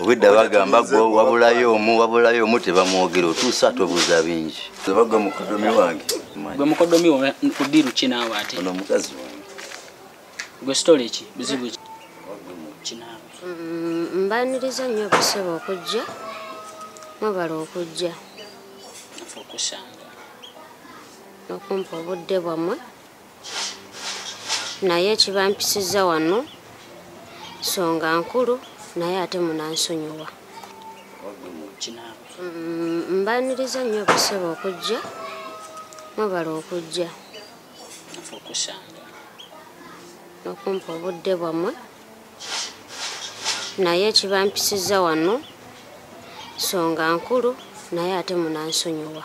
obwedda bagamba gwe wabulayo omu wabulayo omu tebamwogera otuusa tobuuza bingi ebaga mukodomi wange gwe mukodomi wa kudiru ki naawe ate ono mukazi wange gwe sitole ki buzibu ki kinaawe mm, mbaniriza nnyo okusaba okujja mwebala okujja okusanga okumpa obudde bwammwe naye ekibampisizza wano songa nkulu naye ate munansonyiwa mm, mbaniriza nnyo basebe okujja mwebala okujja nokumpa obudde bwammwe naye ekibampisizza wano songa nkulu naye ate munansonyiwa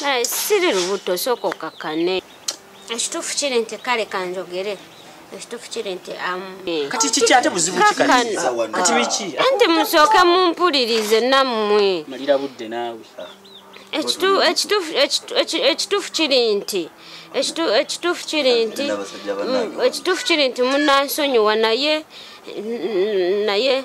naye siri lubuto osooka okakkane ekituufu kiri nti kale kanjogere ekituufu kiri nti kati kiki ate buzibu kikati biki nti musooke mumpulirize nammwe malira budde naawe ekituufu kiri nti ekituufu kiri nti ekituufu kiri nti munansonyiwa naye naye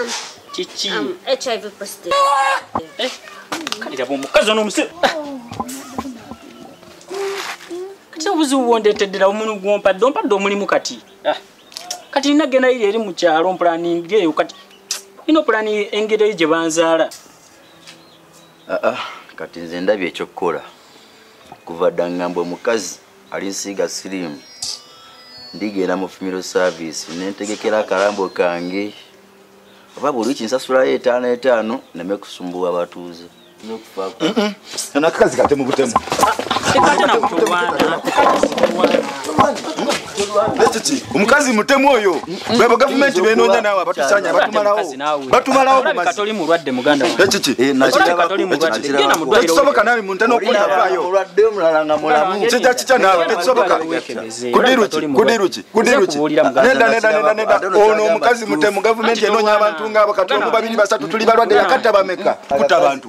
Um, kiki um, hiv positive eh, kati laba omukazi ono omusiru kati obuzibu bwondeteddera omuntu gwompadde ompadde omulimu kati ah, kati nina genda iri eri mu kyalo mpulaningeeyo kati ino pulani engeri eyo gye banzaala Ah, ah, kati nze ndabye ekyokukola kuva dda ngamba omukazi ali nsiiga siriimu ndigenda mu fumiro service nentegekera akalambo kange oba buli wiki nsasulayo etaano etaano neme kusumbuwa abatuuze nakakazi katemu butemu ah, omukazi mutemu oyo bebo gavumenti benonya nawe abatusanya batumalawo batumalawo tekisoboka nawe muntu nokulinavaayokija kitya nawe tekisoboka kudiruki ono omukazi mutemu gavumenti enonya abantu ngaabo kati omu babiri basatu tuli balwadde yakatta bameka kuta bantu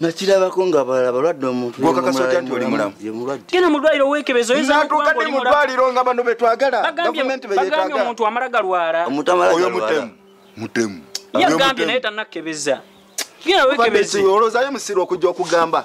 nakirabako nga balala balwadde omuntugenda mulwaliro wekebezo natuka ne mulwaliro nga bano betwagala gavumenti beyetagala omuntu amala galwala oyo mutemu mutemu yagambye naye tanakebeza genda wekebeze olozayo musiri okujja okugamba